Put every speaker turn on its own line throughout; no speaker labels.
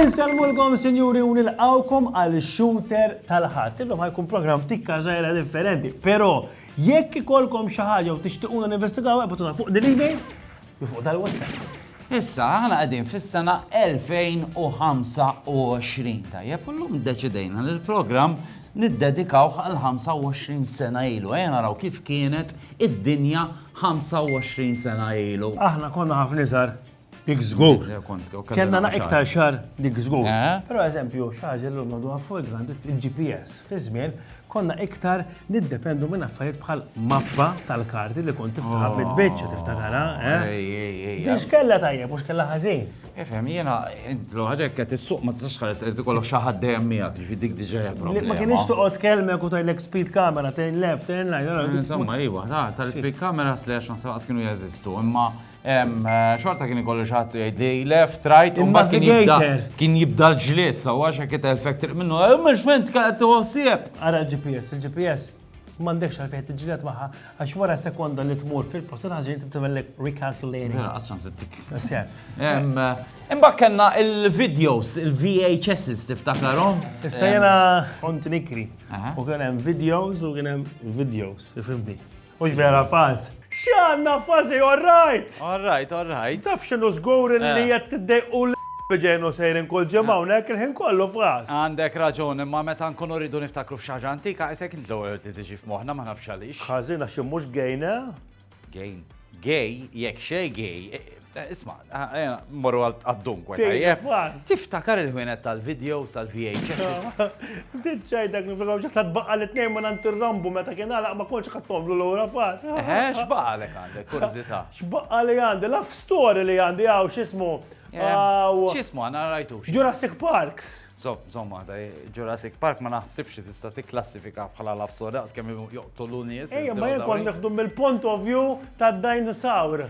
Insellmulkom sinjuri u nilqawkom għal shooter tal-ħadd. Illum ħajkun programm tikka żgħira differenti, però jekk ikolkom xi ħaġa u tixtiquna ninvestigaw ebgħatuna fuq din l-email li fuq dal-website. Issa, aħna
qegħdin fis-sena 2025, tajjeb, u llum iddeċidejna li l-programm niddedikawh għal 25 sena ilu. Ejja naraw kif kienet id-dinja 25 sena ilu. Aħna konna ħafna iżgħar
dik żgur. Jew kont jew kellna Kellna naqra iktar xar dik żgur. Eh? Però eżempju, xi ħaġa llum għadu fuq il-grand il-GPS fi żmien Konna iktar niddependu minn affarijiet bħal mappa tal-karti li kont tiftaħha oh. bit-tbiċċa tiftakarha, eh? Din x'kellha tajjeb u x'kellha ħażin. Ifhem, jiena
intlu ħaġek qed issuq ma tistax ħares irid ikollok xi ħadd dejjem miegħek, jiġri dik diġà hija problema. Ma kienx toqgħod kelmek
u tajlek speed camera, turn left, turn right. Eh, insomma, iwa,
tal-speed camera slash naħseb kienu jeżistu, imma Xorta kien ikollu xaħat jgħidli left, right, u mbagħad kien jibda kien jibda l-ġlied, so għax hekk telfek triq minnu, eh, mhux ment kienet tuħsieb. Ara l-GPS,
il-GPS m'għandekx għal fejn tiġġieled magħha għax wara sekonda li tmur fil-post il-ħażin tibtibellek recalculating. Mela, Għassan sittik.
Eh, imbagħad kellna il-videos, il-VHSs tiftakarhom. Issa jena
kont nikri u kien hemm videos u kien hemm videos, ifimni. Mhux vera falz. X'għandna fażi all right! All right, all right.
Taf x'inhu żgur
li eh. qed tiddejqu l biġejnu sejrin kull ġimgħa hawnhekk il-ħin kollu f'ras. Għandek raġun, imma
meta nkunu rridu niftakru f'xi ħaġa antika, isek int l-ewwel li tiġi f'moħħna ma nafx għaliex. Ħażin għax mhux
gejna. Gejn.
Gej, jekk xej gej, Eh, isma, eh, eh, morru għad-dunkwe, tajjeb. Tiftakar il-ħwienet tal-videos tal-VHS. Ditċaj
dak nifikaw ġaħta tbaqqa li t-nejn ma nantirrambu meta kien għalaq ma konċ ħattomlu l-ura fas. Eħe, xbaqqa li
għandi, kurzita. Xbaqqa li għandi,
laf story li għandi għaw xismu.
Xismu għana rajtu. Jurassic Parks.
Zomma, ta'
Jurassic Park ma naħsibx li tista' tikklassifika bħala laf story, għas kemm joqtolu nies. Ejja, ma jkun neħdu
mill-point of view tad-dinosaur.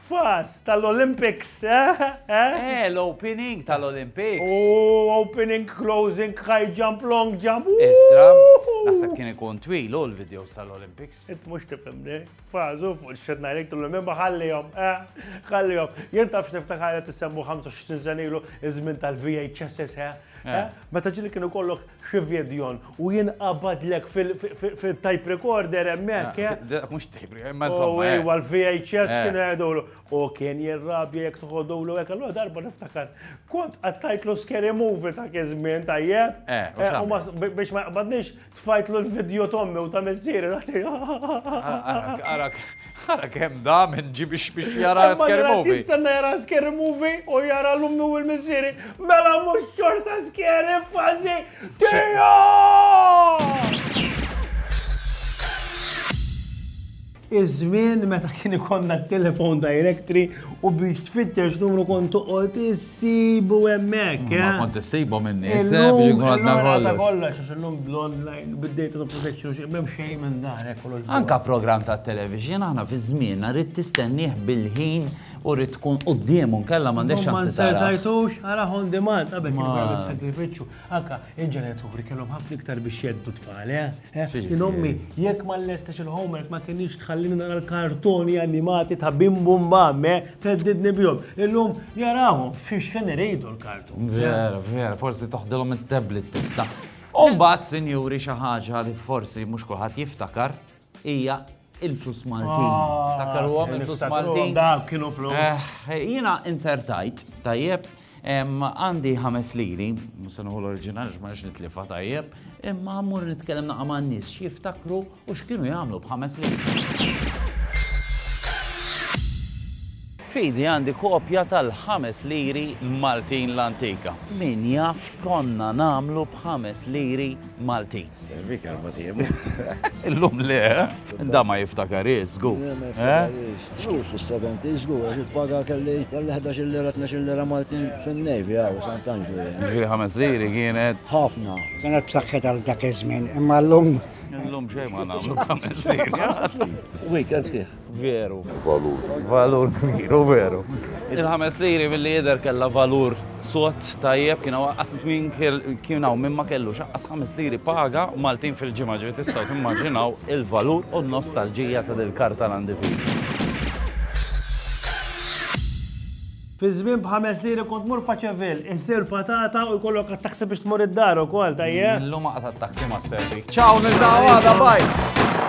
Fast tal-Olympics, eh, eh? Eh, l-opening
tal-Olympics. Oh, opening,
closing, high jump, long jump. Issa,
naħseb kien ikun twil u l-videos tal-Olympics. Int mux tifimni,
fazu fuq il-xed najlek tullu mimma ħallihom, eh, ħallihom. Jien tafx niftakar qed isemmu 25 senilu iż-żmien tal-VHSS, eh? Meta ġili kienu kollok Xi vidjon u jien qabadlek fil-type recorder hemmhekk. Eh? Dak mhux type recorder, imma
żomm. Oh, ejwa l-VHS kien
għedulu. U kien jirrabja jekk tħodulu hekk allura darba niftakar. Kont qattajtlu scary movie ta' iż-żmien tajjeb. Biex ma jaqbadniex tfajtlu l-vidjo tommi u ta' missieri. Arak.
Ara kemm da minn ġie biex jara scary movie. Jistenna jara scary
movie u jara l-ummi u l-missieri. Mela mhux xorta scary fazi tija! Iż-żmien meta kien ikonna t-telefon directory U biex tfittex numru kont toqgħod issibu hemmhekk. Ma eh? kont issibhom
in-nies eh, biex inkun għadna kollox. Kollox għax illum
l-online bid-data protection xi m'hemm xejn minn dan eh, kollox. Anka programm ta'
television aħna fi żmien rrid tistennih bil-ħin u rrid tkun quddiemu nkella m'għandekx xans Ma sertajtux ara
on demand qabel kien sakrifiċċju. Anka il-ġenituri kellhom ħafna iktar biex jeddu tfal, eh? Jien ommi, jekk ma nlestix il-homework ma kinitx tħallini nara l-kartuni animati ta' Bim Bum Bam, eh, theddidni bihom. Illum jarahom fixħin iridu l-kartuni. Vera, vera, forsi
toħdilhom it-tablet tista'. U mbagħad, sinjuri, xi ħaġa li forsi mhux kulħadd jiftakar hija Il-flus Maltin. Ftakkaruhom il-flus Maltin. Dawk kienu flus. Eh,
jiena
inzertajt, tajjeb, għandi ħames liri, musanuħu l-oriġinali x'marx nitlifa tajjeb, imma mmur nitkellem naqa' ma' nies x'jiftakru u x'kienu jagħmlu b'ħames liri. Fidi għandi kopja tal-ħames liri Maltin l-antika. Min jaf konna namlu b'ħames liri Maltin. Servik għal
matiemu. Illum
le, da ma jiftakar iżgu.
Zgur fis-70 iżgu, għax il-paga kelli kelli 11 lira 12 lira Malti fin-nejvi għaw Sant'Anġlu. Ġifieri ħames liri
kienet. Ħafna. Kienet
b'saħħet għal
dak iż-żmien, imma llum. Illum xejn ma
nagħmlu ħames liri. Weekends kif?
Veru. Valur.
Valur kbir, u veru. Il-ħames liri billi jidher kella valur sot tajjeb kien waqqas min kien hawn minn ma kellu xaqqas ħames liri paga Maltin fil-ġimgħa ġiet tistgħu timmaġinaw il-valur u n-nostalġija ta' dil karta l-għandi
Fi żmien b'ħames liri kont mur paċevil, insir patata u jkollok għat-taksi biex tmur
id-dar
ukoll tajjeb.
Illum
għaqta'
taksi
ma'
servi.
Ciao, nil-dawada, bye!